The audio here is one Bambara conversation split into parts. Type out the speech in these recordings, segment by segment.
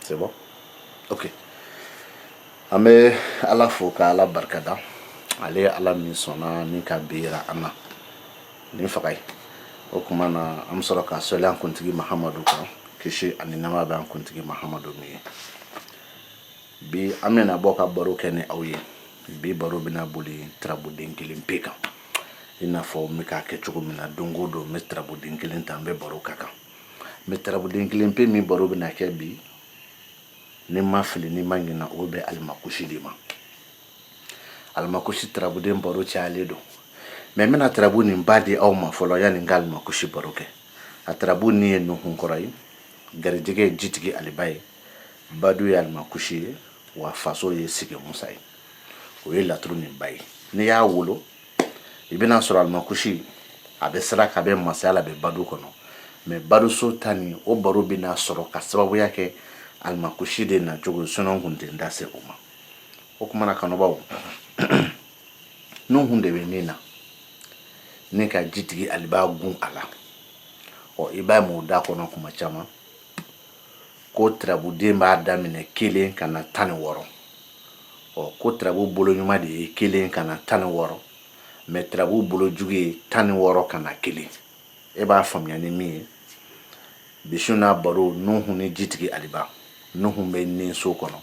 c'est bon ok an bɛ ala fo ka ala barika da ale ye ala min sɔnna ni ka bera an na nin faga ye o kuma na an bɛ sɔrɔ ka sali an kuntigi mahamadu kan kisi ani nɛɛma bɛ an kuntigi mahamadu min ye bi an bɛna bɔ ka baro kɛ ni aw ye bi baro bɛna boli tarabuden kelen pe kan i n'a fɔ n bɛ k'a kɛ cogo min na don o don n bɛ tarabuden kelen ta n bɛ baro k'a kan mais tarabuden kelen pe min baro bɛna kɛ bi ni n ma fili ni n ma ɲina o bɛ alimakusi de ma alimakusi tarabuden baro cayalen don mais n bɛna tarabu nin ba di aw ma fɔlɔ yanni n ka alimakusi baro kɛ a tarabu nin ye nuhunkɔrɔ ye garijɛgɛ ye jitigi aliba ye badu ye alimakusi ye wa faso ye sigi musa ye o ye laturu nin ba ye n'i y'a wolo i bɛna sɔrɔ alimakusi a bɛ sira ka bɛ masaya la a bɛ badu kɔnɔ mais baduso ta nin o baro bɛna sɔrɔ ka sababuya kɛ alimakusi de na cogo sinon kun tɛ n da se o ma o kuma na kanubaw nuhun de bɛ nin na ni ka jitigi aliba gun a la ɔ i b'a mɛn u da kɔnɔ kuma caman ko turabuden b'a daminɛ kelen ka na tan ni wɔɔrɔ ɔ ko turabu bolo ɲuman de ye kelen ka na tan ni wɔɔrɔ mais turabu bolo jugu ye tan ni wɔɔrɔ ka na kelen e b'a faamuya ni min ye bi su na baro nuhu ni jitigi aliba nuhu bɛ nin so kɔnɔ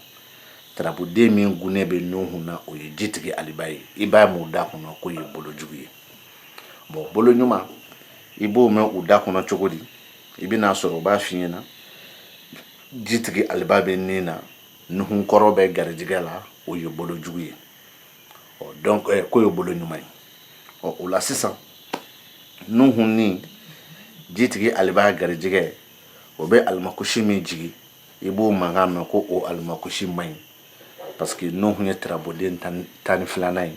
turabuden min gunnen bɛ nuhu na o ye jitigi aliba ye i b'a mɛn u da kɔnɔ k'o ye bolo jugu ye bon bolo ɲuman i b'o mɛn u da kɔnɔ cogo di i bɛn'a sɔrɔ u b'a f'i ɲɛna jitigi aliba bɛ nin na nuhunkɔrɔ bɛ garijɛgɛ la o ye bolo jugu ye ɔ donc eh, k'o ye bolo ɲuman ye ɔ o la sisan nuhu ni jitigi aliba garijɛgɛ o bɛ alimakusi min jigi i b'o mankan mɛn ko o alimakusi man ɲi parce que nuhu ye tirabuden tan ni filanan ye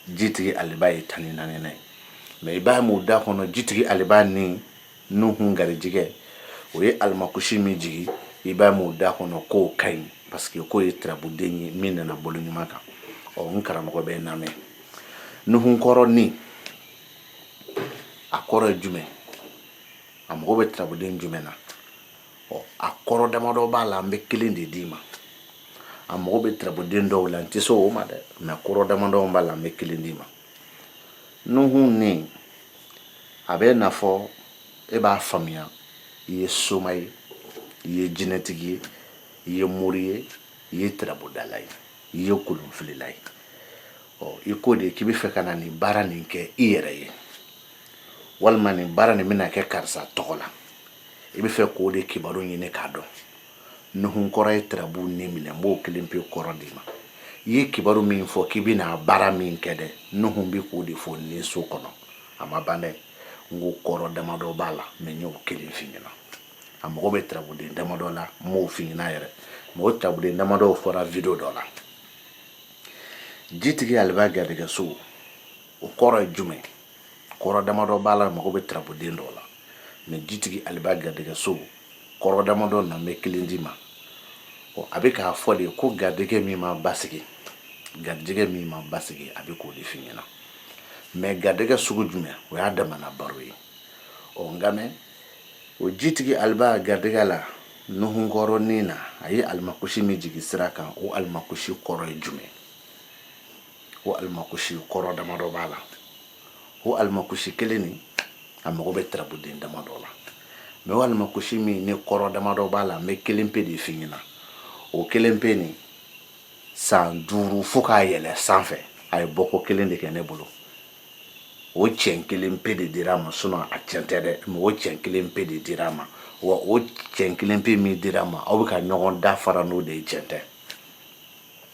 jitigi aliba ye tan ni naaninan ye mais i b'a mɛn u da kɔnɔ jitigi aliba ni nuhun garijɛgɛ o ye alimakusi min jigin i b'a mɛn u da kɔnɔ k'o ka ɲi parce que k'o ye turabuden ye min nana bolo ɲuman kan ɔ n karamɔgɔ bɛ n lamɛn nuhunkɔrɔ nin a kɔrɔ ye jumɛn a mago bɛ turabuden jumɛn na ɔ a kɔrɔ damadɔ b'a la an bɛ kelen de d'i ma a mago bɛ turabuden dɔw la n tɛ se o ma dɛ mais kɔrɔ damadɔ b'a la an bɛ kelen d'i ma nuhun nin a bɛn'a fɔ e b'a faamuya i ye soma ye i ye jinɛtigi ye i ye mori ye i ye tirabudala ye i ye kolonfilila ye ɔ i ko de k'i bɛ fɛ ka na nin baara nin kɛ i yɛrɛ ye walima nin baara nin bɛna kɛ karisa tɔgɔ la i bɛ fɛ k'o de kibaru ɲini k'a dɔn nuhun kɔrɔ ye tirabu nin minɛ n b'o kelen pe kɔrɔ d'i ma i ye kibaru min fɔ k'i bɛna baara min kɛ dɛ nuhun bɛ k'o de fɔ nin so kɔnɔ a ma ban dɛ n ko kɔrɔ damadɔ b'a la mɛ n y'o kelen f'i ɲɛna a mago bɛ tirabuden damadɔ la n m'o f'i ɲɛna yɛrɛ mɛ o tirabuden damadɔw fɔra video dɔ la jitigi aliba garijɛgɛso o kɔrɔ ye jumɛn kɔrɔ damadɔ b'a la mago bɛ tirabuden dɔw la mɛ jitigi aliba garijɛgɛ so kɔrɔ damadɔ na n bɛ kelen d'i ma ɔ a bɛ k'a fɔ de ko garijɛgɛ min ma basigi garijɛgɛ min ma basigi a bɛ k'o de f'i ɲɛna mɛ garijɛgɛ sugu jumɛn o y'a damana baro ye ɔ nka mɛ o jitigi aliba garijɛgɛ la nuhunkɔrɔ nin na a ye alimakusi min jigi sira kan o alimakusi kɔrɔ ye jumɛn o alimakusi kɔrɔ damadɔ b'a la o alimakusi kelen nin a mago bɛ tarabuden damadɔ la mɛ o alimakusi min ni kɔrɔ damadɔ b'a la n bɛ kelen pe de f'i ɲɛna o kelen pe nin san duuru fo k'a yɛlɛ sanfɛ a ye bɔko kelen de kɛ ne bolo o cɛn kelen pe de dira a ma sinɔn a cɛn tɛ dɛ mɛ o cɛn kelen pe de dira a ma wa o cɛn kelen pe min dira a ma aw bɛ ka ɲɔgɔn da fara n'o de ye cɛn tɛ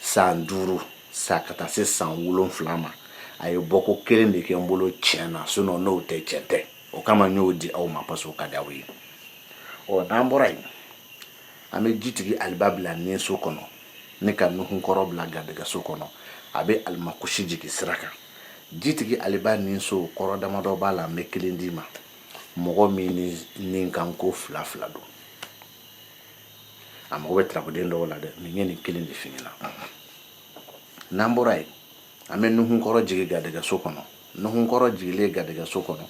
san duuru sa ka taa se san wolonwula ma a ye bɔko kelen de kɛ n bolo tiɲɛ na sinɔn n'o tɛ cɛn tɛ o kama n y'o di aw ma parce que o ka di aw ye ɔ n'an bɔra yen an bɛ jitigi aliba bila nin so kɔnɔ ne ka nuhun kɔrɔ bila garijɛgɛso kɔnɔ a bɛ alimakusi jigin sira kan jitigi aliba nin so kɔrɔ damadɔ b'a la n bɛ kelen d'i ma mɔgɔ min ni kanko fila fila don a mago bɛ tirabuden dɔw la dɛ ne ye nin kelen de f'i ɲɛna n'an bɔra yen an bɛ nuhunkɔrɔ jigin garijɛgɛso kɔnɔ nuhunkɔrɔ jigilen garijɛgɛso kɔnɔ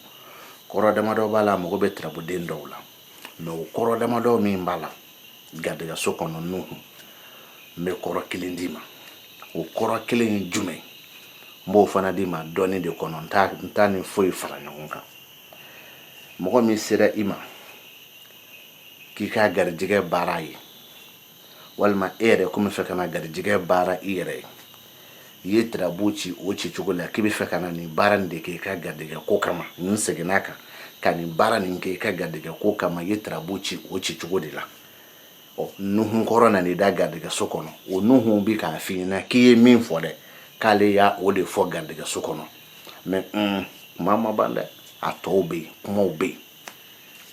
kɔrɔ damadɔ b'a la a mago bɛ tirabuden dɔw la mɛ o kɔrɔ damadɔ min b'a la garijɛgɛso kɔnɔ nuhun n bɛ kɔrɔ kelen d'i ma o kɔrɔ kelen ye jumɛn ye n b'o fana d'i ma dɔɔni de kɔnɔ n t'a ni foyi fara ɲɔgɔn kan mɔgɔ min sera i ma k'i ka garijɛgɛ baara ye walima e yɛrɛ ko n bɛ fɛ ka na garijɛgɛ baara i yɛrɛ ye i ye tirabu ci o ci cogo la k'i bɛ fɛ ka na nin baara nin de kɛ i ka garijɛgɛ ko kama nin seginna kan ka nin baara nin kɛ i ka garijɛgɛ ko kama i ye tirabu ci o ci cogo de la ɔ nuhun kɔrɔ nan'i da garijɛgɛso kɔnɔ o nuhun bɛ k'a f'i ɲɛna k'i ye min fɔ dɛ k'ale y'o de fɔ garijɛgɛso kɔnɔ mɛ kuma ma ban dɛ a tɔw bɛ yen kumaw bɛ yen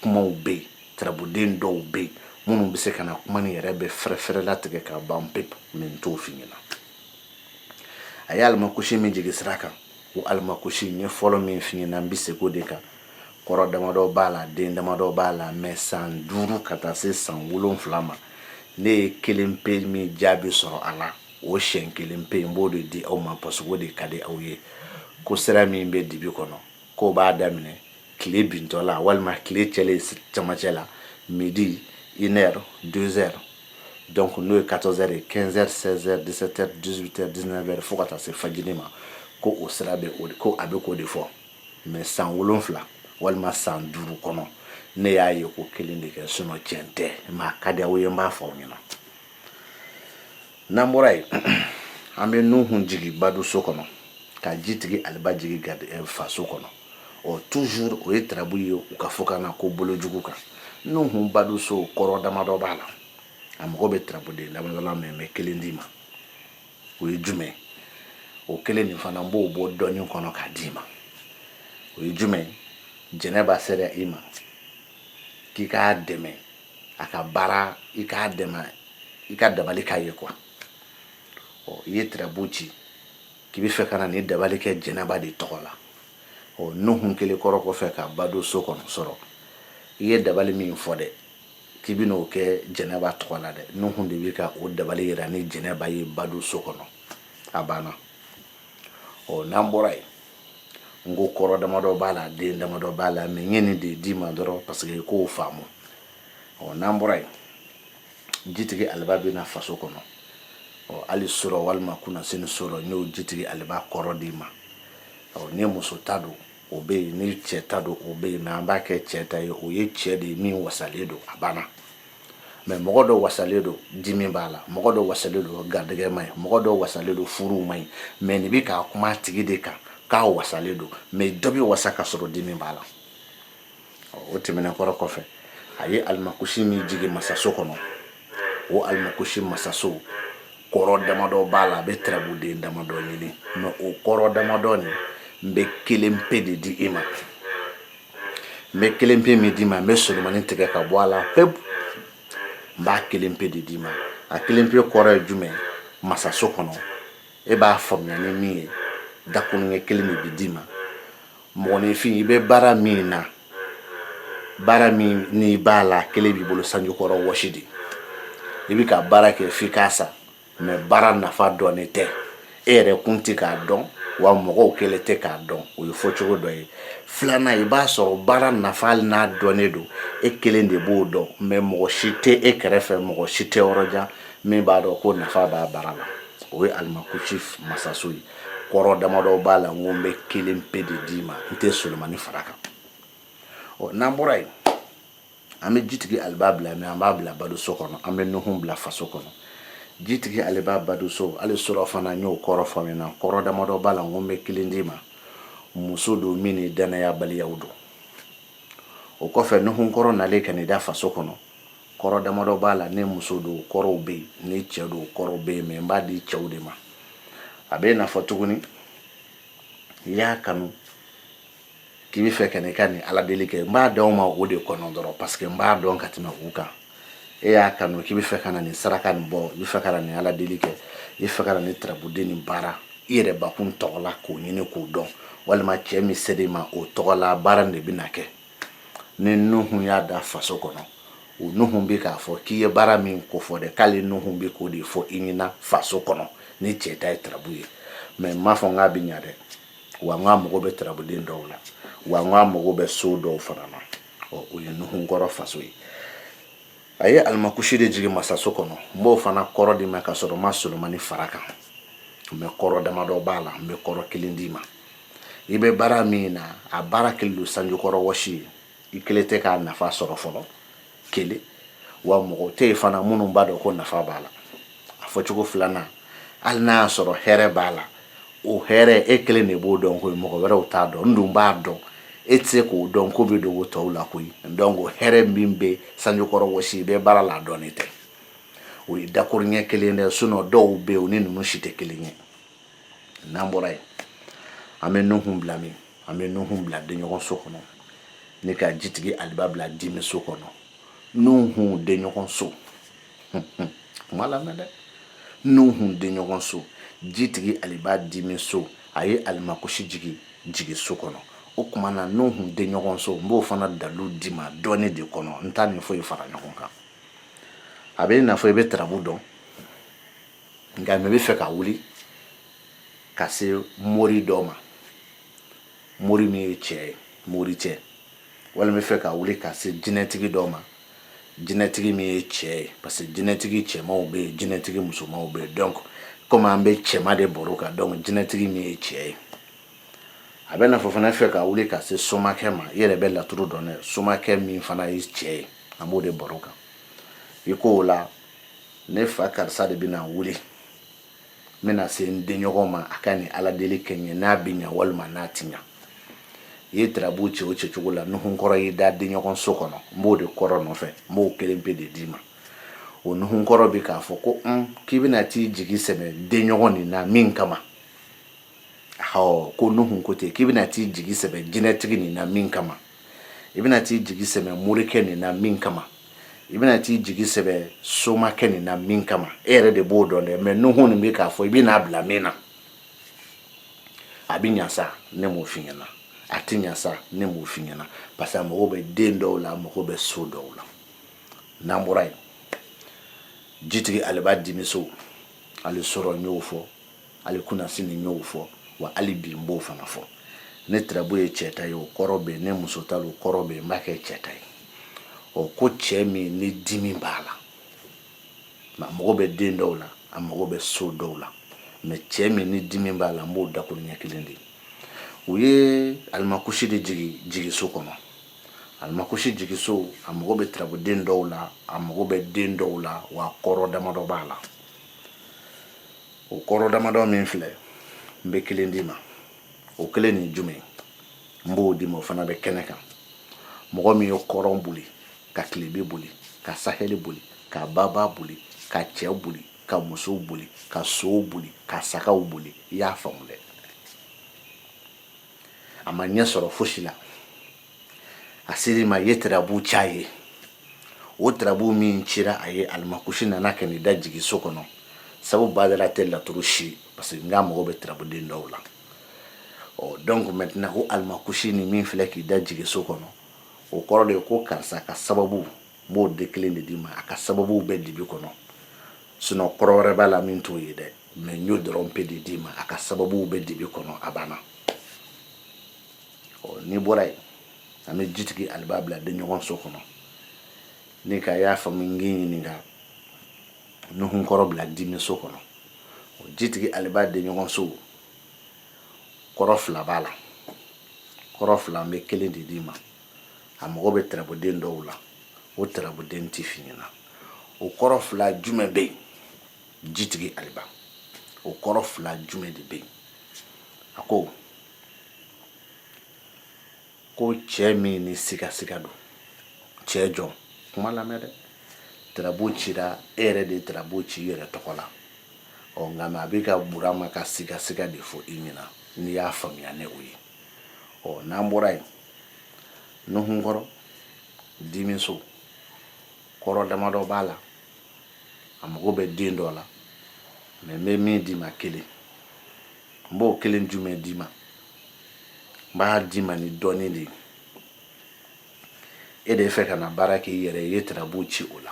kumaw bɛ yen tarabuden dɔw bɛ yen minnu bɛ se ka na kuma nin yɛrɛ bɛ fɛrɛfɛrɛ latigɛ ka ban pewu mɛ n t'o f'i ɲɛna a ye alimakosi min jigin sira kan o alimakosi n ye fɔlɔ min f'i ɲɛna n bɛ segin o de kan kɔrɔ damadɔ b'a la den damadɔ b'a la mɛ san duuru ka taa se san wolonfila ma ne ye kelen pe min jaabi sɔrɔ a la o siɲɛ kelen pe n b'o de di aw ma parce que o de ka di aw ye ko sira min bɛ dibi kɔnɔ k'o b'a daminɛ tile bintɔ la walima tile cɛlen camancɛ la midi une heure deux heures donc n'o ye 14 heures ye 15 heures 16 heures 17 heures 18 heures 19 heures fo ka taa se fajiri ma ko o sira bɛ o ko a bɛ k'o de fɔ mais san wolonfila walima san duuru kɔnɔ ne y'a ye ko kelen de kɛ sinon tiɲɛ tɛ mɛ a ka di aw ye n b'a fɔ aw ɲɛna n'an bɔra yen an bɛ nuhun jigin baduso kɔnɔ ka jitigi aliba jigin eh, faso kɔnɔ ɔ toujours o ye tarabu ye u ka fɔkan na ko bolojugu kan nuhun baduso kɔrɔ damadɔ b'a la a mago bɛ tarabuden damadɔ la mɛ n bɛ kelen d'i ma o ye jumɛn o kelen nin fana n b'o bɔ dɔɔnin kɔnɔ k'a d'i ma o ye jumɛn jɛnɛba sera i ma k'i k'a dɛmɛ a ka baara i k'a dɛmɛ i ka dabali k'a ye quoi ɔ i ye tirabu ci k'i bɛ fɛ ka na nin dabali kɛ jɛnɛba de tɔgɔ la ɔ nuhun kɛlen kɔrɔ kɔfɛ ka baduso kɔnɔ sɔrɔ i ye dabali min fɔ dɛ k'i bɛ n'o kɛ jɛnɛba tɔgɔ la dɛ nuhun de bɛ ka o dabali yira ni jɛnɛba ye baduso kɔnɔ a banna ɔ n'an bɔra yen n ko kɔrɔ damadɔ b'a la den damadɔ b'a la mɛ n ye nin de d'i ma dɔrɔn parce que i k'o faamu ɔ n'an bɔra yen jitigi aliba bɛ na faso kɔnɔ ɔ hali sɔrɔ walima kunnasini sɔrɔ n y'o jitigi aliba kɔrɔ d'i ma ɔ ni muso ta don o bɛ yen ni cɛ ta don o bɛ yen mɛ an b'a kɛ cɛ ta ye o ye cɛ de ye min wasalen don a banna mɛ mɔgɔ dɔ wasalen don dimi b'a la mɔgɔ dɔ wasalen don garijɛgɛ ma ɲi mɔgɔ dɔ wasalen don furu ma ɲi mɛ nin bɛ k'a kuma tigi de kan k'a wasalen don mɛ dɔ bɛ wasa ka sɔrɔ dimi b'a la o tɛmɛnen kɔrɔ kɔfɛ a ye alimakusi min jigin masaso kɔnɔ o alimakusi masaso kɔrɔ damadɔ b'a la a bɛ tarabuden damadɔ ɲini mɛ o kɔrɔ damadɔ nin n bɛ kelen pe de di i ma n bɛ kelen pe min d'i ma n bɛ solomani tigɛ ka bɔ a la pewu n b'a kelen pe de d'i ma a kelen pe kɔrɔ ye jumɛn masaso kɔnɔ e b'a faamuya ni min ye dakuruɲɛ kelen de bɛ d'i ma mɔgɔninfin i bɛ baara min na baara min n'i b'a la kelen b'i bolo sanjikɔrɔ wɔsi de i bɛ ka baara kɛ f'i k'a sa mɛ baara nafa dɔnnen tɛ e yɛrɛ kun tɛ k'a dɔn wa mɔgɔw kɛlen tɛ k'a dɔn o ye fɔcogo dɔ ye filanan i b'a sɔrɔ baara nafa n'a dɔnnen don e kelen de b'o dɔn mɛ mɔgɔ si tɛ e kɛrɛfɛ mɔgɔ si tɛ yɔrɔ jan min b'a dɔn ko nafa b'a baara la o ye alimakusi masaso ye kɔrɔ damadɔ b'a la n ko n bɛ kelen pe de d'i ma n tɛ solomani fara kan ɔ n'an bɔra yen an bɛ jitigi aliba bila min an b'a bila badenso kɔnɔ an bɛ nuhun bila faso kɔnɔ jitigi aliba badenso ale sɔrɔ fana n y'o kɔrɔ fɔ min na kɔrɔ damadɔ b'a la n ko n bɛ kelen d'i ma muso don min ni danayabaliyaw don o kɔfɛ nuhun kɔrɔ nalen ka da faso kɔnɔ kɔrɔ damadɔ b'a la ni muso don kɔrɔw bɛ yen ni cɛ don kɔrɔw bɛ yen mɛ n b'a di cɛw de ma a bɛ n'a fɔ tuguni i y'a kanu k'i bɛ fɛ ka n'i ka nin ala deli kɛ n b'a d'aw ma o de kɔnɔ dɔrɔn parce que n b'a dɔn ka tɛmɛ u kan e y'a kanu k'i bɛ fɛ ka na nin saraka nin bɔ i bɛ fɛ ka na nin ala deli kɛ i bɛ fɛ ka na nin tarabuden nin baara i yɛrɛ bakun tɔgɔ la k'o ɲini k'o dɔn walima cɛ min sera i ma o tɔgɔ la baara nin de bɛ na kɛ ni nuhun y'a da faso kɔnɔ o nuhun bɛ k'a fɔ k'i ye baara min kofɔ dɛ k'ale nuhun bɛ k'o de fɔ i ɲɛna faso kɔnɔ ni cɛ ta ye tarabu ye mɛ n m'a fɔ n k'a bɛ ɲa dɛ wa n k'a mago bɛ tarabuden dɔw la wa n k'a mago bɛ so dɔw fana na ɔ o ye nuhun kɔrɔ faso ye a ye alimakusi de jigin masaso kɔnɔ n b'o fana kɔrɔ d'i ma ka sɔrɔ n ma solomani fara kan n bɛ kɔrɔ damadɔ b'a la n bɛ kɔrɔ kelen d'i ma i bɛ baara min na a baara kɛlen don sanjikɔrɔ wɔsi ye i kɛlen tɛ k'a nafa sɔrɔ fɔlɔ kelen wa mɔgɔ tɛ yen fana minnu b'a dɔn ko nafa b'a la a fɔcogo filanan hali n'a y'a sɔrɔ hɛrɛ b'a la o hɛrɛ e kelen de b'o dɔn ko mɔgɔ wɛrɛw t'a dɔn n dun b'a dɔn e tɛ se k'o dɔn ko bɛ dogo tɔw la koyi donc hɛrɛ min bɛ sanjikɔrɔ wɔsi i bɛ baara la a dɔnnen tɛ o ye dakuru ɲɛ kelen dɛ sinon dɔw bɛ yen o ni ninnu si tɛ kelen ye n'an bɔra yen an bɛ nuhun bila min an bɛ nuhun bila denɲɔgɔn so kɔnɔ ni ka jitigi aliba bila dimi so kɔnɔ nuhun denɲɔgɔn so kuma lamɛn dɛ nuhun denɲɔgɔn so jitigi aliba dimi so a ye alimakusi jigin jigi so kɔnɔ o tuma na nuhun denɲɔgɔn so n b'o fana dalu d'i ma dɔɔni de kɔnɔ n t'a ni foyi fara ɲɔgɔn kan a bɛ i n'a fɔ i bɛ tarabu dɔn nka mɛ i bɛ fɛ ka wuli ka se mori dɔ ma mori min ye cɛ ye mori cɛ walima i bɛ fɛ ka wuli ka se jinɛtigi dɔ ma jinɛtigi min ye cɛ ye parce que jinɛtigi cɛmanw bɛ yen jinɛtigi musomanw bɛ yen donc komi an bɛ cɛman de baro kan donc jinɛtigi min ye cɛ ye a bɛ n'a fɔ fana fɛ ka wuli ka se somakɛ ma i yɛrɛ bɛ laturu dɔn dɛ somakɛ min fana ye cɛ ye an b'o de baro kan i ko o la ne fa karisa de bɛna wuli n bɛna se n denɲɔgɔn ma a ka nin ala deli kɛ n ye n'a bɛ ɲa walima n'a ti ɲa i ye tirabu ci o ci cogo la nuhun kɔrɔ y'i da denɲɔgɔn so kɔnɔ n b'o de kɔrɔ nɔfɛ n b'o kelen pe de d'i ma o nuhun kɔrɔ bɛ k'a fɔ ko un k'i bɛna t'i jigi sɛmɛ denɲɔgɔn nin na min kama hɔ ko nuhun ko ten k'i bɛna t'i jigi sɛmɛ jinɛtigi nin na min kama i bɛna t'i jigi sɛmɛ morikɛ nin na min kama i bɛna t'i jigi sɛmɛ somakɛ nin na min kama e yɛrɛ de b'o dɔn dɛ mais nuhun nin bɛ k'a fɔ i bɛn'a bila min na a bɛ ɲa sa ne m'o f'i ɲɛna a tɛ ɲa sa ne m'o f'i ɲɛna parce que a mago bɛ den dɔw la a mago bɛ so dɔw la n'an bɔra yen jitigi aliba dimi so hali surɔ n y'o fɔ hali kunasini n y'o fɔ wa hali bi n b'o fana fɔ ni tirabu ye cɛ ta ye o kɔrɔ bɛ yen ni muso ta o kɔrɔ bɛ yen n b'a kɛ cɛ ta ye ɔ ko cɛ min ni dimi b'a la a mago bɛ den dɔw la a mago bɛ so dɔw la mais cɛ min ni dimi b'a la n b'o dakuruɲɛ kelen de u ye alimakusi de jigi jigiso kɔnɔ alimakusi jigiso a mago bɛ tirabuden dɔw la a mago bɛ den dɔw la wa kɔrɔ damadɔ b'a la o kɔrɔ damadɔ min filɛ n bɛ kelen d'i ma o kelen nin jumɛn n b'o d'i ma o fana bɛ kɛnɛ kan mɔgɔ min ye kɔrɔn boli ka tilebe boli ka sahɛli boli ka baba boli ka cɛw boli ka musow boli ka sow boli ka sagaw boli i y'a faamu dɛ a ma ɲɛ sɔrɔ fosi la a ser'i ma i ye tirabu c'a ye o tirabu min cira a ye alimakusi nana ka n'i da jigi so kɔnɔ sabu badara tɛ laturu si parce que n k'a mago bɛ tirabuden dɔw la ɔ donc maintenant o alimakusi ni min filɛ k'i da jigi so kɔnɔ o kɔrɔ de ye ko karisa ka sababu n b'o de kelen de d'i ma a ka sababuw bɛ dibi kɔnɔ sinon kɔrɔ wɛrɛ b'a la min t'o ye dɛ mais n y'o dɔrɔn pe de d'i ma a ka sababu bɛ dibi kɔnɔ a banna ɔ n'i bɔra yen an bɛ jitigi aliba bila denɲɔgɔn so kɔnɔ n'i k'i y'a faamu n k'i ɲininka nuhun kɔrɔ bila dimi so kɔnɔ o jitigi aliba denɲɔgɔn so kɔrɔ fila b'a la kɔrɔ fila an bɛ kelen de d'i ma a mago bɛ tirabuden dɔw la o tirabuden tɛ f'i ɲɛna o kɔrɔ fila jumɛn bɛ yen jitigi aliba o kɔrɔ fila jumɛn de bɛ yen a ko ko cɛ min ni sigasiga don cɛ jɔn kuma lamɛn dɛ tirabu cira e yɛrɛ de ye tirabu ci i yɛrɛ tɔgɔ la ɔ nka mais a bɛ ka burama ka sigasiga de fɔ i ɲɛna n'i y'a faamuya ni o ye ɔ n'an bɔra yen nuhun kɔrɔ dimiso kɔrɔ damadɔ b'a la a mago bɛ den dɔ la mɛ n bɛ min d'i ma kelen n b'o kelen jumɛn d'i ma n b'a d'i ma ni dɔɔni de ye e de fɛ ka na baara kɛ i yɛrɛ ye i ye tarabu ci o la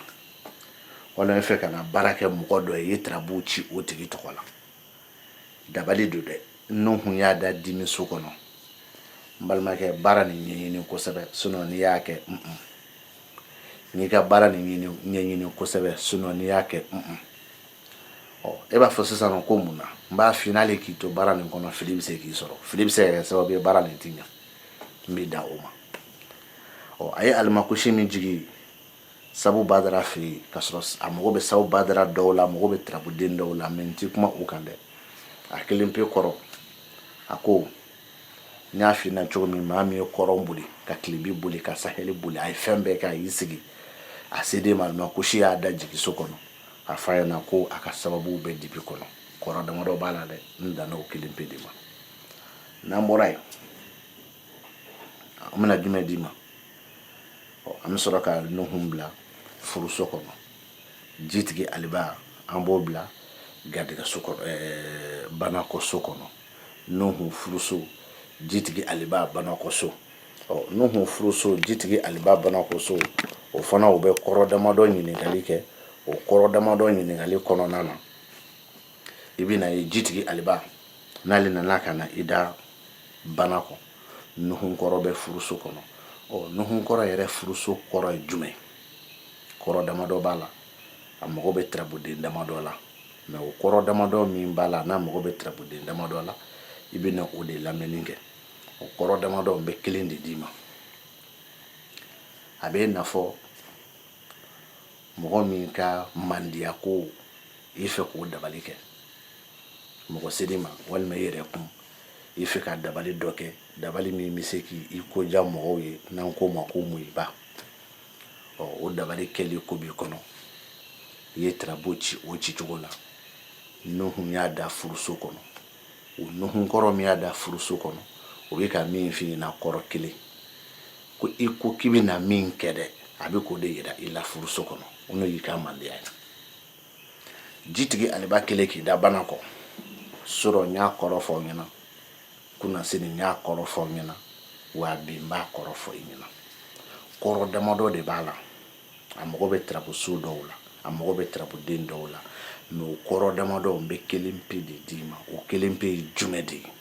wala e fɛ ka na baara kɛ mɔgɔ dɔ ye i ye tarabu ci o tigi tɔgɔ la dabali don dɛ nuhun y'a da dimiso kɔnɔ n balimakɛ baara nin ɲɛɲini kosɛbɛ sinɔ n'i y'a kɛ mm -mm. n'i ka baara nin ɲɛɲini kosɛbɛ sinɔ n'i y'a kɛ mm ɔ e b'a fɔ sisan nɔ ko mun na n b'a f'i n'ale k'i to baara nin kɔnɔ fili bɛ se k'i sɔrɔ fili bɛ se ka kɛ sababu ye baara nin tiɲa n bɛ dan o ma ɔ a ye alimakusi min jigi sabu badara fɛ yen ka sɔrɔ a mago bɛ sabu badara dɔw la a mago bɛ tarabuden dɔw la mɛ n tɛ kuma u kan dɛ a kelen pe kɔrɔ a ko n y'a f'i ɲɛna cogo min maa min ye kɔrɔn boli ka kilebi boli ka sahɛli boli a ye fɛn bɛɛ kɛ a y'i sigi a seden ma alimakusi y'a da jigiso kɔnɔ a f'a ɲɛna ko a ka sababu bɛ dibi kɔnɔ kɔrɔ damadɔ b'a la dɛ n danna o kelen pe de ma n'an bɔra yen an bɛna jumɛn d'i ma an bɛ sɔrɔ ka nuhun bila furuso kɔnɔ jitigi aliba an b'o bila garijɛgɛso banakɔso kɔnɔ nuhun furuso jitigi aliba banakɔso ɔ nuhun furuso jitigi aliba banakɔso o fana o bɛ kɔrɔ damadɔ ɲininkali kɛ o kɔrɔ damadɔ ɲininkali kɔnɔna na i bɛna ye jitigi aliba n'ale nana ka na i da banakɔ nuhun kɔrɔ bɛ furuso kɔnɔ ɔ nuhun kɔrɔ yɛrɛ furuso kɔrɔ ye jumɛn kɔrɔ damadɔ b'a la a mago bɛ tarabuden damadɔ la mɛ o kɔrɔ damadɔ min b'a la n'a mago bɛ tarabuden damadɔ la i bɛna o de lamɛnni kɛ o kɔrɔ damadɔ n bɛ kelen de d'i ma a bɛ n'a fɔ mɔgɔ min ka mandiyako i fɛ k'o dabali kɛ mɔgɔ seri ma walima i yɛrɛ kun i fɛ ka dabali dɔ kɛ dabali min bɛ se k'i ko diya mɔgɔw ye n'an k'o ma ko muyiba ɔ o dabali kɛli ko b'i kɔnɔ i ye tarabu ci o ci cogo la nuhun y'a da furuso kɔnɔ o nuhun kɔrɔ min y'a da furuso kɔnɔ o bɛ ka min f'i ɲɛna kɔrɔ kelen ko i ko k'i bɛna min kɛ dɛ a bɛ k'o de yira i la furuso kɔnɔ o n'o y'i ka mandiya ye jitigi aliba kelen k'i da bana kɔ sɔrɔ n y'a kɔrɔ fɔ aw ɲɛna kunnasini n y'a kɔrɔ fɔ aw ɲɛna wa bi n b'a kɔrɔ fɔ i ɲɛna kɔrɔ damadɔ de b'a la a mago bɛ tarabuso dɔw la a mago bɛ tarabuden dɔw la mais o kɔrɔ damadɔ n bɛ kelen pe de d'i ma o kelen pe ye jumɛn de ye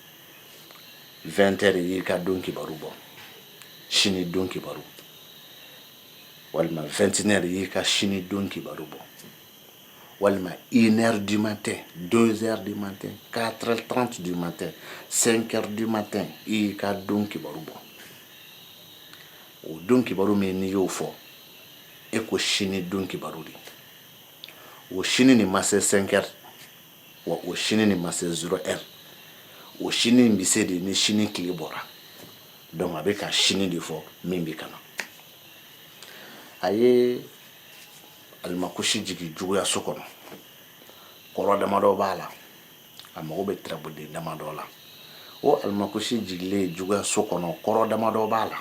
vingt heures y'i ka don kibaru bɔ sini don kibaru walima vɛntinɛri y'i ka sini don kibaru bɔ walima inɛri di man tɛ donsɛri di man tɛ kari tanranti di man tɛ senkɛri di man tɛ i y'i ka don kibaru bɔ o don kibaru min n'i y'o fɔ e ko sini don kibaru de o sini nin ma se senkɛri wa o sini nin ma se zéro heure o sini bɛ se de ni sini tile bɔra donc a bɛ ka sini de fɔ min bɛ ka na a ye alimakusi jigin juguyaso kɔnɔ kɔrɔ damadɔ b'a la a mago bɛ tarabuden damadɔ la o alimakusi jigilen juguyaso kɔnɔ kɔrɔ damadɔ b'a la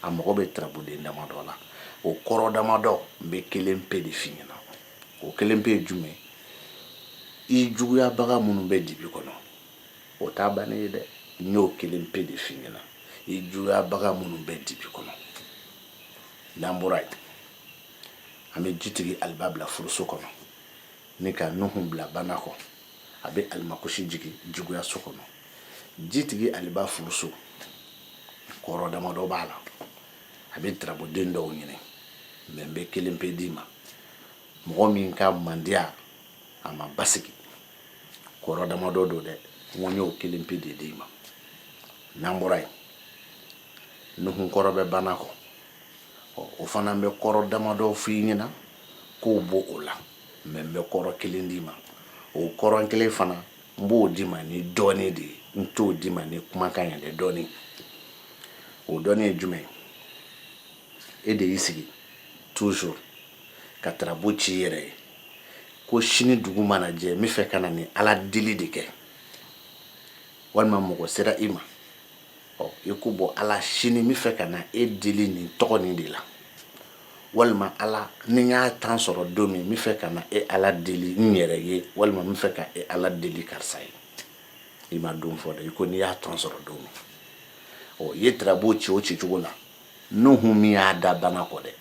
a mago bɛ tarabuden damadɔ la o kɔrɔ damadɔ n bɛ kelen pe de f'i ɲɛna o kelen pe ye jumɛn i juguyabaga minnu bɛ dibi kɔnɔ o t'a bannen ye dɛ n y'o kelen pe de f'i ɲɛna i juguyabaga minnu bɛ dibi kɔnɔ n'an bɔra yen an bɛ jitigi aliba bila furuso kɔnɔ ni ka nuhun bila bana kɔ a bɛ alimakusi jigin juguyaso kɔnɔ jitigi aliba furuso kɔrɔ damadɔ b'a la a bɛ tarabuden dɔw ɲini mais n bɛ kelen pe d'i ma mɔgɔ min ka mandiya a ma basigi kɔrɔ damadɔ don dɛ n ko n y'o kelen pe de d'i ma n'an bɔra yen nuhun kɔrɔ bɛ bana kɔ ɔ o fana bɛ kɔrɔ damadɔ f'i ɲɛna k'o b'o o la mais n bɛ kɔrɔ kelen d'i ma o kɔrɔ kelen fana n b'o d'i ma ni dɔɔni de ye n t'o d'i ma ni kumakan ye dɛ dɔɔni o dɔɔni ye jumɛn e de y'i sigi toujours ka tarabu ci i yɛrɛ ye ko sini dugu mana jɛ n bɛ fɛ ka na ni ala deli de kɛ walima mɔgɔ sera i ma ɔ i ko bɔ ala sini n bɛ fɛ ka na e deli nin tɔgɔ nin de la walima ala ni n y'a temps sɔrɔ don min n bɛ fɛ ka na e ala deli n yɛrɛ ye walima n bɛ fɛ ka e ala deli karisa ye i ma don fɔ dɛ i ko n'i y'a temps sɔrɔ don min ɔ i ye tirabu ci o ci cogo la nuhu min y'a da bana kɔ dɛ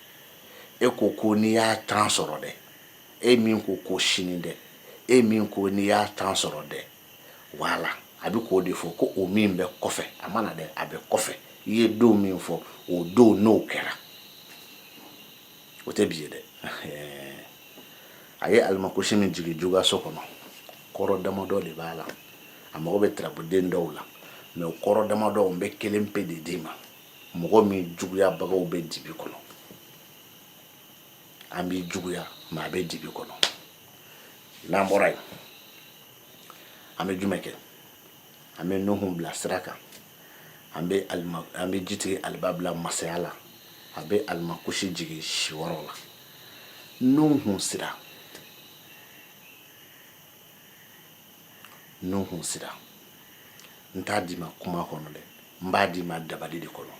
e ko ko n'i y'a temps sɔrɔ dɛ e min ko ko sini dɛ e min ko n'i y'a temps sɔrɔ dɛ wala a bɛ k'o de fɔ ko o min bɛ kɔfɛ a ma na dɛ a bɛ kɔfɛ i ye don min fɔ o don n'o kɛra o tɛ bi ye dɛ a ye alimakosi min jigin juguso kɔnɔ kɔrɔ damadɔ de b'a la a mago bɛ tirabuden dɔw la mɛ o kɔrɔ damadɔ n bɛ kelen pe de d'i ma mɔgɔ min juguyabagaw bɛ dibi kɔnɔ a b'i juguya mɛ a bɛ dibi kɔnɔ n'an bɔra yen an bɛ jumɛn kɛ an bɛ nuhun bila sira kan an bɛ alima an bɛ jitigi aliba bila masaya la a bɛ alimakusi jigin siyɔrɔ la nuhun sira nuhun sira n t'a d'i ma kuma kɔnɔ dɛ n b'a d'i ma dabali de kɔnɔ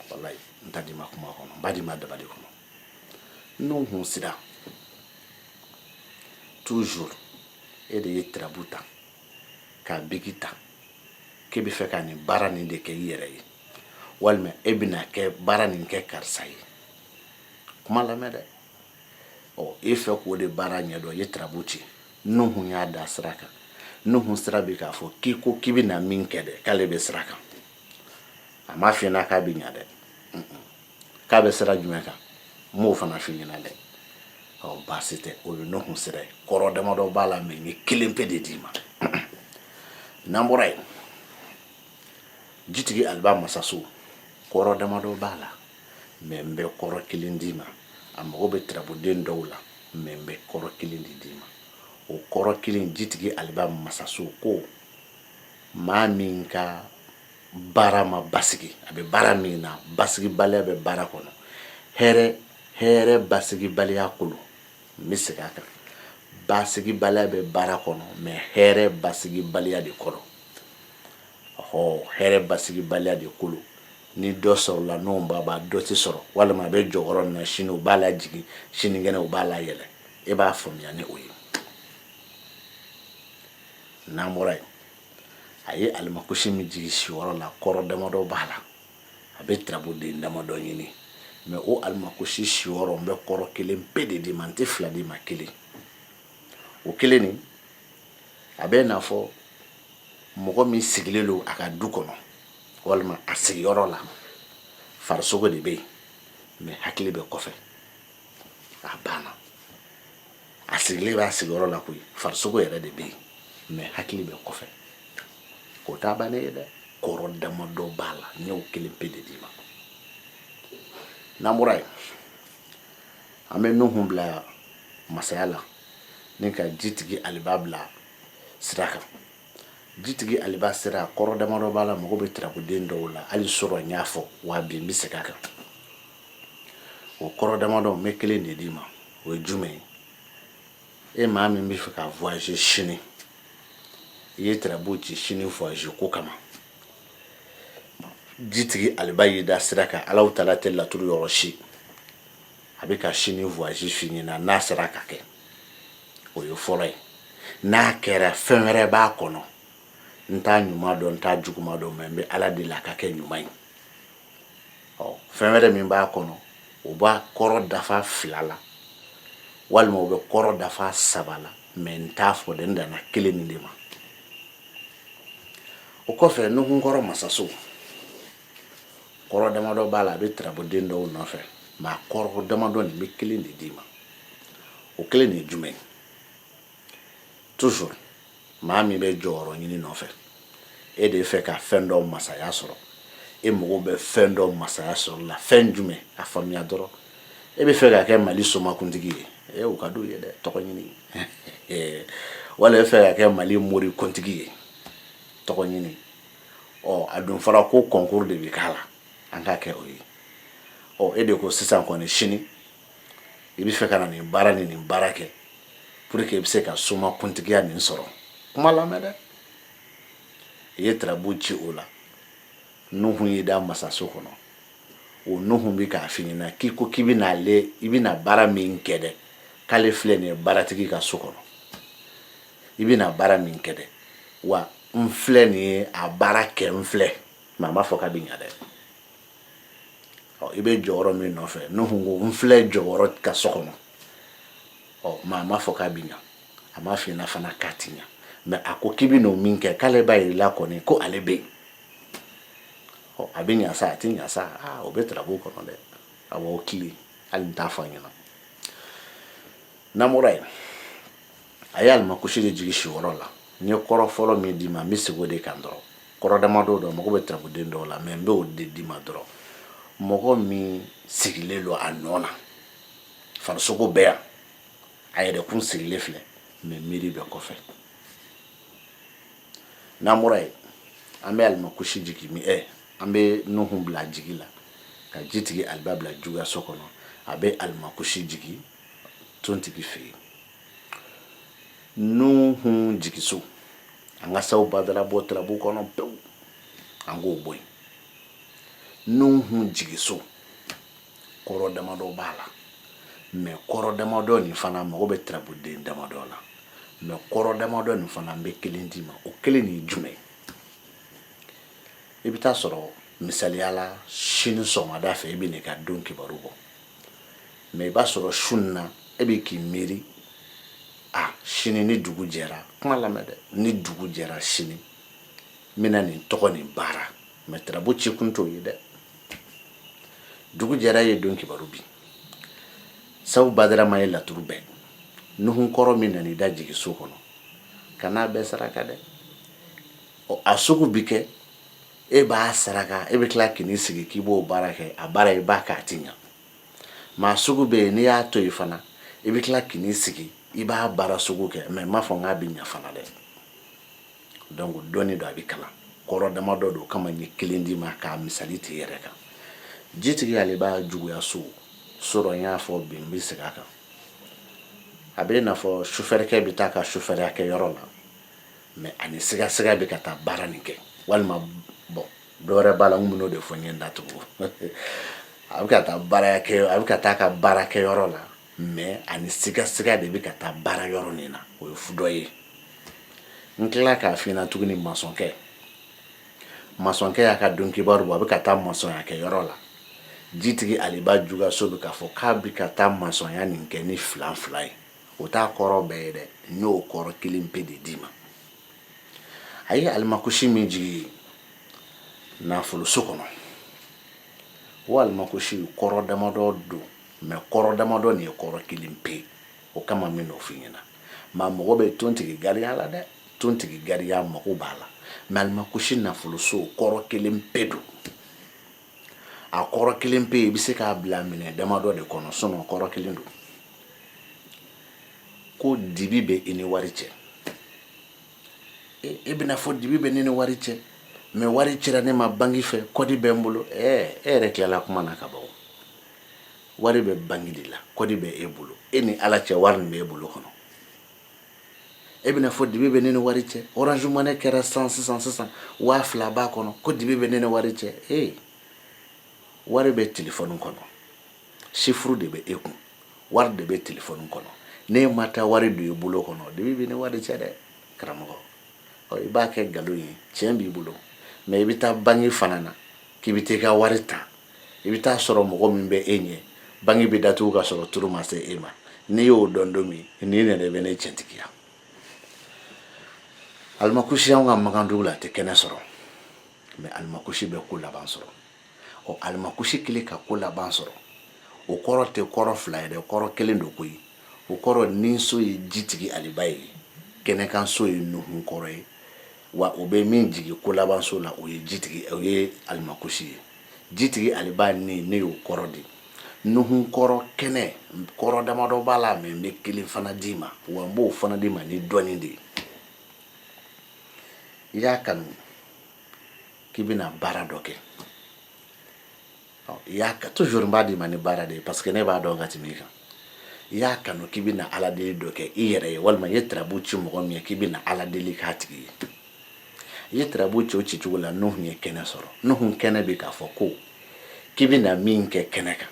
walayi n t'a d'i ma kuma kɔnɔ n b'a d'i ma dabali kɔnɔ nuhun sira toujours e de ye tirabu ta k'a biki ta k'e bɛ fɛ ka nin baara nin de kɛ i yɛrɛ ye walima e bɛna kɛ baara nin kɛ karisa ye kuma lamɛn dɛ ɔ e fɛ k'o de baara ɲɛdɔn i ye tirabu ci nuhun y'a da sira kan nuhun sira bɛ k'a fɔ k'i ko k'i bɛna min kɛ dɛ k'ale bɛ sira kan a m'a f'i ɲɛna k'a bɛ ɲa dɛ k'a bɛ sira jumɛn kan n m'o fana f'i ɲɛna dɛ ɔ baasi tɛ o ye nuhun sira ye kɔrɔ damadɔ b'a la mɛ n ye kelen pe de d'i ma n'an bɔra yen jitigi aliba masaso kɔrɔ damadɔ b'a la mɛ n bɛ kɔrɔ kelen d'i ma a mago bɛ tirabuden dɔw la mɛ n bɛ kɔrɔ kelen de d'i ma o kɔrɔ kelen jitigi aliba masaso ko maa min ka baara ma basigi a bɛ baara min na basigibaliya bɛ baara kɔnɔ hɛrɛ basigibaliya ko lo n bɛ segin a kan basigibaliya bɛ baara kɔnɔ mɛ hɛrɛ basigibaliya de kɔnɔ ɔ hɛrɛ basigibaliya de ko lo ni dɔ sɔrɔla n'o b'a b'a dɔ tɛ sɔrɔ walima a bɛ jɔyɔrɔ min na sini u b'a lajigin sinikɛnɛ u b'a layɛlɛ e b'a faamuya ni o ye n'an bɔra yen a ye alimakosi min jigin siyɔrɔ la kɔrɔ damadɔ b'a la a bɛ tirabuden damadɔ ɲini mɛ o alimakosi siyɔrɔ n bɛ kɔrɔ kelen pe de d'i ma n tɛ fila d'i ma kelen o kelen nin a bɛ n'a fɔ mɔgɔ min sigilen don a ka du kɔnɔ walima a sigiyɔrɔ la farisogo de bɛ yen mɛ hakili bɛ kɔfɛ A banna, a sigilen b'a sigiyɔrɔ la koyi farisogo yɛrɛ de bɛ yen mɛ hakili bɛ kɔfɛ k'o t'a bannen ye dɛ kɔrɔ damadɔ b'a la n y'o kelen pe de d'i ma n'an bɔra yen an bɛ nuhun bila masaya la ni ka jitigi aliba bila sira kan jitigi aliba sira kɔrɔ damadɔ b'a la mago bɛ tirabuden dɔw la hali sɔrɔ n y'a fɔ wa bi n bɛ segin a kan o kɔrɔ damadɔ n bɛ kelen de d'i ma o ye jumɛn ye e maa min bɛ fɛ ka voyager sini i ye tirabu ci sini voyager ko kama jitigi aliba y'i da sira kan ale taalen tɛ laturu yɔrɔ si a b'i ka sini voyage f'i ɲɛna n'a sera ka kɛ o ye fɔlɔ ye n'a kɛra fɛn wɛrɛ b'a kɔnɔ n t'a ɲuman dɔn n t'a juguman dɔn mɛ n bɛ ala deli a ka kɛ ɲuman ye ɔ fɛn wɛrɛ min b'a kɔnɔ o b'a kɔrɔ dafa fila la walima o bɛ kɔrɔ dafa saba la mɛ n t'a fɔ dɛ n danna kelen nin de ma o kɔfɛ nuhun kɔrɔ masaso kɔrɔ damadɔ b'a la a bɛ tirabuden dɔw nɔfɛ mɛ a kɔrɔ damadɔ ne bɛ kelen de d'i ma o kelen de ye jumɛn ye toujours maa min bɛ jɔyɔrɔ ɲini nɔfɛ e de fɛ ka fɛn dɔ masaya sɔrɔ e mago bɛ fɛn dɔ masaya sɔrɔ la fɛn jumɛn a faamuya dɔrɔn e bɛ fɛ ka kɛ mali somakuntigi ye ee o ka d'u ye dɛ tɔgɔ ɲini wala e fɛ ka kɛ mali morikuntigi ye tɔgɔ ɲini ɔ a dun fɔra ko concours de bɛ k'a la an k'a kɛ o ye ɔ e de ko sisan kɔni sini i bɛ fɛ ka na nin baara ni nin baara kɛ pour que i bɛ se ka somakuntigiya nin sɔrɔ kuma lamɛn dɛ i ye tarabu ci o la nuhu y'i da masaso kɔnɔ o nuhu bɛ k'a f'i ɲɛna k'i ko k'i bɛna ale i bɛna baara min kɛ dɛ k'ale filɛ nin ye baaratigi ka so kɔnɔ i bɛna baara min kɛ dɛ wa n filɛ nin ye a baara kɛ n filɛ mɛ a m'a fɔ k'a bɛ ɲa dɛ i bɛ jɔyɔrɔ min nɔfɛ nuhun ko n filɛ jɔyɔrɔ ka so kɔnɔ mɛ a m'a fɔ k'a bɛ ɲa a m'a f'i ɲɛna fana k'a ti ɲa mɛ a ko k'i bɛ n'o min kɛ k'ale b'a yir'i la kɔni ko ale bɛ yen a bɛ ɲa sa a tɛ ɲa sa o bɛ tarabu kɔnɔ dɛ awɔ o tile hali n t'a fɔ a ɲɛna n'an bɔra yen a ye alimakusi de jigin siyɔrɔ la n ye kɔrɔ fɔlɔ min d'i ma n bɛ segin o de kan dɔrɔn kɔrɔ damadɔ don mago bɛ tarabuden dɔw la mɛ n bɛ o de d'i ma dɔrɔn mɔgɔ min sigilen don a nɔ na farisogo bɛ yan a yɛrɛkun sigilen filɛ mɛ miiri bɛ kɔfɛ n'an bɔra yen an bɛ alimakusi jigin mi ɛ an bɛ nuhu bila jigi la ka jitigi aliba bila juguyaso kɔnɔ a bɛ alimakusi jigin tontigi fɛ yen nuhun jigiso an ka saw badara bɔ tarabu kɔnɔ pewu an k'o bɔ yen nuhun jigiso kɔrɔ damadɔ b'a la mɛ kɔrɔ damadɔ nin fana mago bɛ tarabuden damadɔ la mɛ kɔrɔ damadɔ nin fana n bɛ kelen d'i ma o kelen nin jumɛn i bɛ taa sɔrɔ misaliya la sini sɔgɔmada fɛ i bɛ n'i ka don kibaru bɔ mɛ i b'a sɔrɔ su in na e bɛ k'i miiri a sini ni dugu jɛra kuma lamɛn dɛ ni dugu jɛra sini n bɛna nin tɔgɔ nin baara mɛ tarabu cikun t'o ye dɛ dugu jɛra ye don kibaru bi sabu badarama ye laturu bɛɛ nuhun kɔrɔ min nana i da jigiso kɔnɔ kan'a bɛɛ saraka dɛ a sugu bi kɛ e b'a saraka e bɛ tila k'i sigi k'i b'o baara kɛ a baara i b'a kɛ a tɛ ɲɛ maa sugu bɛ yen n'i y'a to yen fana i bɛ tila k'i sigi i b'a baara sugu kɛ mɛ n m'a fɔ k'a bɛ ɲɛ fana dɛ dɔɔni dɔɔni don a bɛ kalan kɔrɔ damadɔ don kama n ye kelen d'i ma k'a misali t'i yɛrɛ kan jitigi aliba juguyaso sɔrɔ n y'a fɔ bi n bɛ segin a kan a bɛ n'a fɔ sufɛrikɛ bɛ taa ka sufɛriya kɛ yɔrɔ la mɛ ani sigasiga bɛ ka taa baara nin kɛ walima bɔn dɔwɛrɛ b'a la n bɛn'o de fɔ n ye n da tugu a bɛ ka taa baara kɛ a bɛ ka taa ka baara kɛ yɔrɔ la mɛ ani sigasiga de bɛ ka taa baara yɔrɔ nin na o ye fu dɔ ye n tilala k'a f'i ɲɛna tuguni masɔnkɛ masɔnkɛ y'a ka don kibaru bɔ a bɛ ka taa masɔnya kɛ yɔrɔ la jitigi aliba juguyaso bɛ k'a fɔ k'a bɛ ka taa masɔnya nin kɛ ni filanfila ye o t'a kɔrɔ bɛɛ ye dɛ n y'o kɔrɔ kelen pe de d'i ma a ye alimakusi min jigin nafoloso kɔnɔ o alimakusi kɔrɔ damadɔ don mɛ kɔrɔ damadɔ nin ye kɔrɔ kelen pe ye o kama n bɛn'o f'i ɲɛna maa mago bɛ tontigi gariya la dɛ tontigi gariya mago b'a la mɛ alimakusi nafoloso kɔrɔ kelen pe don a kɔrɔ kelen pe i bɛ se k'a bila minɛ damadɔ de kɔnɔ sinɔn kɔrɔ kelen don ko dibi bɛ i ni wari cɛ e bɛna fɔ dibi bɛ ne ni wari cɛ mɛ wari cira ne ma banki fɛ kɔdi bɛ n bolo e yɛrɛ tilala kuma na ka ban wari bɛ banki de la kɔdi bɛ e bolo e ni ala cɛ wari nin bɛ e bolo kɔnɔ e bɛna fɔ dibi bɛ ne ni wari cɛ orange money kɛra san sisan sisan waa fila b'a kɔnɔ ko dibi bɛ ne ni wari cɛ ee wari bɛ telefɔni kɔnɔ sifuru de bɛ e kun wari de bɛ telefɔni kɔnɔ n'e ma taa wari don i bolo kɔnɔ dibi bɛ ne wari cɛ dɛ karamɔgɔ ɔ i b'a kɛ nkalon ye tiɲɛ b'i bolo mɛ i bɛ taa banki fana na k'i bɛ taa i ka wari ta i bɛ taa sɔrɔ mɔgɔ min bɛ e ɲɛ banki bɛ datugu ka sɔrɔ turu ma se e ma n'i y'o dɔn don min nin nana i bɛ ne cɛntigiya alimakusi anw ka makan dugu la a tɛ kɛnɛ sɔrɔ mɛ alimakusi bɛ ko laban sɔrɔ ɔ alimakusi kelen ka ko laban sɔrɔ o kɔrɔ tɛ kɔrɔ fila ye dɛ kɔrɔ kelen don koyi o kɔrɔ ninso ye jitigi aliba ye kɛnɛkanso ye nuhun kɔrɔ ye wa o bɛ min jigin ko labanso la o ye alimakusi ye jitigi aliba ni ne y'o kɔrɔ di nuhun kɔrɔ kɛnɛ kɔrɔ damadɔ b'a la mɛ n bɛ kelen fana d'i ma wa n b'o fana d'i ma ni dɔɔnin de ye i y'a kanu k'i bɛna baara dɔ kɛ Toujours n b'a d'i ma ni baara de ye parce que ne b'a dɔn ka tɛmɛ i kan i y'a kanu k'i bɛ na ala deli dɔ kɛ i yɛrɛ ye walima i ye tarabu ci mɔgɔ min ye k'i bɛ na ala deli k'a tigi ye i ye tarabu ci o ci cogo la nuhun ye kɛnɛ sɔrɔ nuhun kɛnɛ bɛ k'a fɔ ko k'i bɛ na min kɛ kɛnɛ kan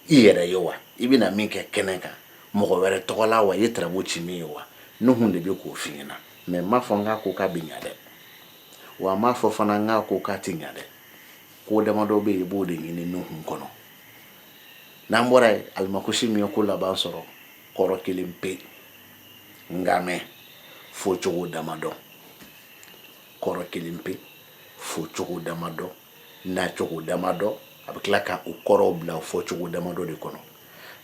i yɛrɛ ye wa i bɛ na min kɛ kɛnɛ kan mɔgɔ wɛrɛ tɔgɔ la wa i ye tarabu ci min ye wa nuhun de bɛ k'o f'i ɲɛna mɛ n m'a fɔ n k'a ko k'a bɛ ɲɛ dɛ wa a m'a fɔ fana n k'a ko k'a tɛ ɲɛ dɛ ko damadɔ bɛ yen i b'o de ɲini nuhun kɔnɔ n'an bɔra yen alimakusi min ye ko laban sɔrɔ kɔrɔ kelen pe nka mɛ fɔ cogo damadɔ kɔrɔ kelen pe fɔ cogo damadɔ na cogo damadɔ a bɛ tila ka o kɔrɔw bila fɔ cogo damadɔ de kɔnɔ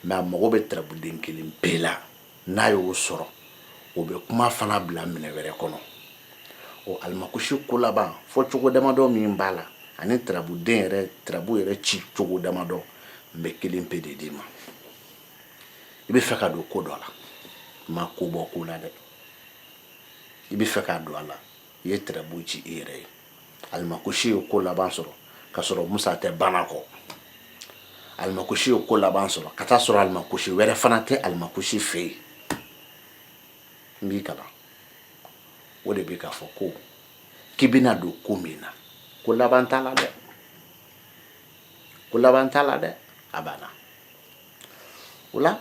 mɛ a mago bɛ tarabuden kelen pe la n'a y'o sɔrɔ o bɛ kuma fana bila minɛn wɛrɛ kɔnɔ o alimakusi ko laban fɔ cogo damadɔ min b'a la ani tarabuden yɛrɛ tarabu yɛrɛ ci cogo damadɔ n bɛ kelen pe de d'i ma i bɛ fɛ ka don ko dɔ la ma ko bɔ ko la dɛ i bɛ fɛ ka don a la i ye tarabu ci i yɛrɛ ye alimakusi ye ko laban sɔrɔ ka sɔrɔ musa tɛ bana kɔ alimakusi ye ko laban sɔrɔ ka taa sɔrɔ alimakusi wɛrɛ fana tɛ alimakusi fɛ yen n b'i kalan o de bɛ k'a fɔ ko k'i bɛna don ko min na ko laban t'a la dɛ ko laban t'a la dɛ a banna o la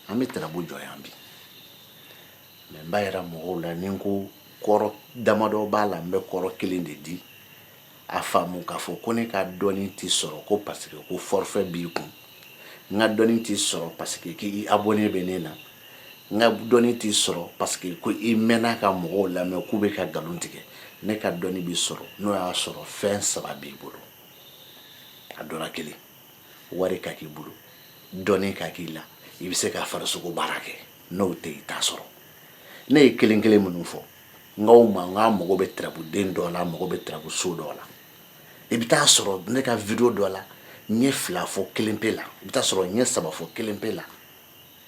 an bɛ tarabu jɔ yan bi Mɛ n b'a yira mɔgɔw la nin ko kɔrɔ damadɔ b'a la n bɛ kɔrɔ kelen de di a faamu k'a fɔ ko ne ka dɔni tɛ sɔrɔ ko parce que ko forfait b'i kun n ka dɔni tɛ sɔrɔ parce que k'i abonné bɛ ne na n ka dɔni tɛ sɔrɔ parce que ko i mɛnna ka mɔgɔw lamɛn k'u bɛ ka nkalon tigɛ ne ka dɔni bɛ sɔrɔ n'o y'a sɔrɔ fɛn saba b'i bolo a dɔ la kelen wari ka k'i bolo dɔni ka k'i la i bɛ se ka fara sogo baara kɛ n'o tɛ i t'a sɔrɔ ne ye kelen kelen minnu fɔ n k'aw ma n k'a mago bɛ tarabuden dɔ la mago bɛ tarabuso dɔ la i bɛ taa sɔrɔ ne ka video dɔ la n ye fila fɔ kelen pe la i bɛ taa sɔrɔ n ye saba fɔ kelen pe la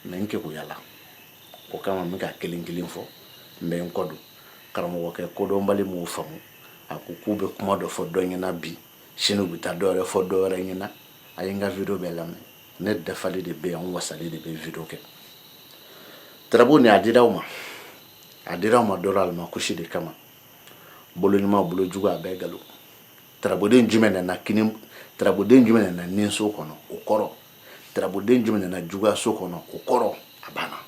mɛ n keguyala o kama n bɛ ka kelen kelen fɔ n bɛ n kɔ don karamɔgɔkɛ kodɔnbali m'o faamu a ko k'u bɛ kuma dɔ fɔ dɔ ɲɛna bi sini u bɛ taa dɔ wɛrɛ fɔ dɔ wɛrɛ ɲɛna a ye n ka video bɛɛ lamɛn ne dafali de bɛ yan wasali de bɛ video kɛ tarabu nin a dira aw ma a dira aw ma dɔrɔn ala ma kusi de kama bolo ɲuman bolo jugu a bɛɛ k'a lɔn tarabuden jumɛn nana kini tarabuden jumɛn nana ninso kɔnɔ o kɔrɔ tarabuden jumɛn nana juguyaso kɔnɔ o kɔrɔ a banna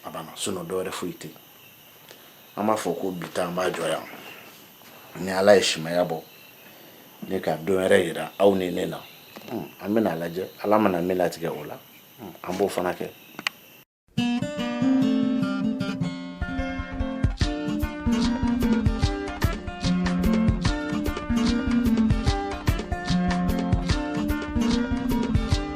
a banna sinon dɔwɛrɛ foyi tɛ an b'a fɔ ko bi ta an b'a jɔ yan ni ala ye simaya bɔ ni ka don wɛrɛ yira aw ni ne na hmm, an bɛna a lajɛ ala mana min latigɛ o la hmm, an b'o fana kɛ